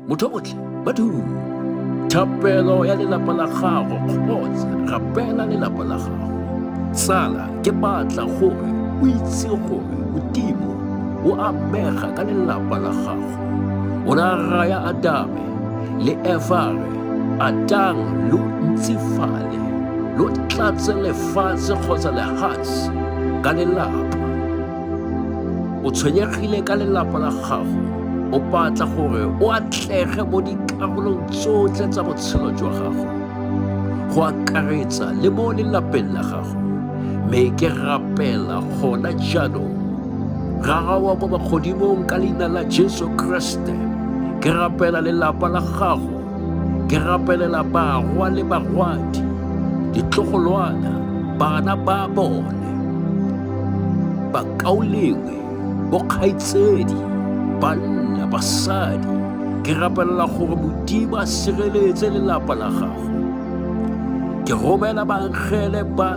motho botlhe ba thapelo ya lelapa la gago kgotsa rapela lelapa la gago tsala ke batla gore o itse gore modimo o amega ka lelapa la gago o ra raya adame le efare atang lo ntsifale lo tlatse lefatshe kgotsa lehatshe ka lelapa o tshwenyegile ka lelapa la gago o batla gore o atlege mo dikarolong tsotlhe tsa botshelo jwa gago go akaretsa le mo lelapeng la gago mme ke rapela gona jaanong rara wa kwa bogodimong ka leina la jesu kriste ke rapela lelapa la gago ke rapelela barwa le barwadi ditlogolwana bana ba bone bakaulengwe bokgaitsedi banna basadi ke rapelela gore modimo a sireletse lelapa la gago ke romela bangele ba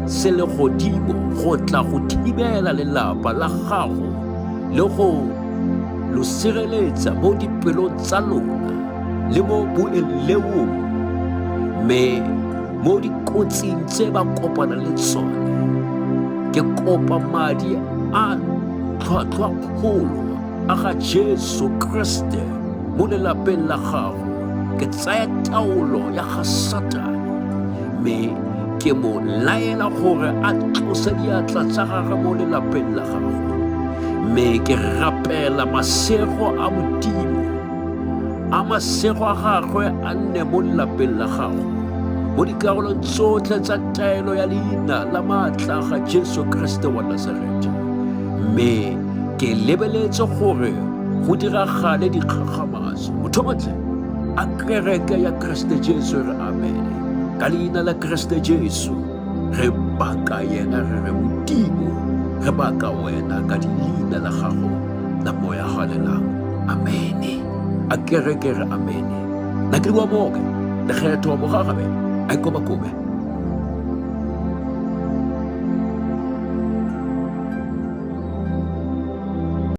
selegodimo go tla go thibela lelapa la gago le go lo sireletsa mo dipelong tsa lona le mo boelewong mme mo dikotsing tse ba kopana le tsone ke kopa madi a tlhwatlhwa kgolo a ga jesu kriste mo lelapeng la gago ke tsaya taolo ya ga satane mme ke mo laela gore a tlose diatla tsa gagwe mo lelapeng la gago mme ke rapela masego a modimo a masego a gagwe a nne mo lelapeng la gago mo dikarolong tsotlhe tsa taelo ya leina la maatla ga jesu kriste wa nasareta mme ke lebeletse gore go diragale dikgakgamatso motho motlhe A kereke ya Kriste Jesu re amene ka leina la Kriste Jesu re baka yena re re modimo re baka wena ka leina la gago la moya galelang amene a kereke re amene na ke bua boke lekgetho bogagabe a ikoba kobe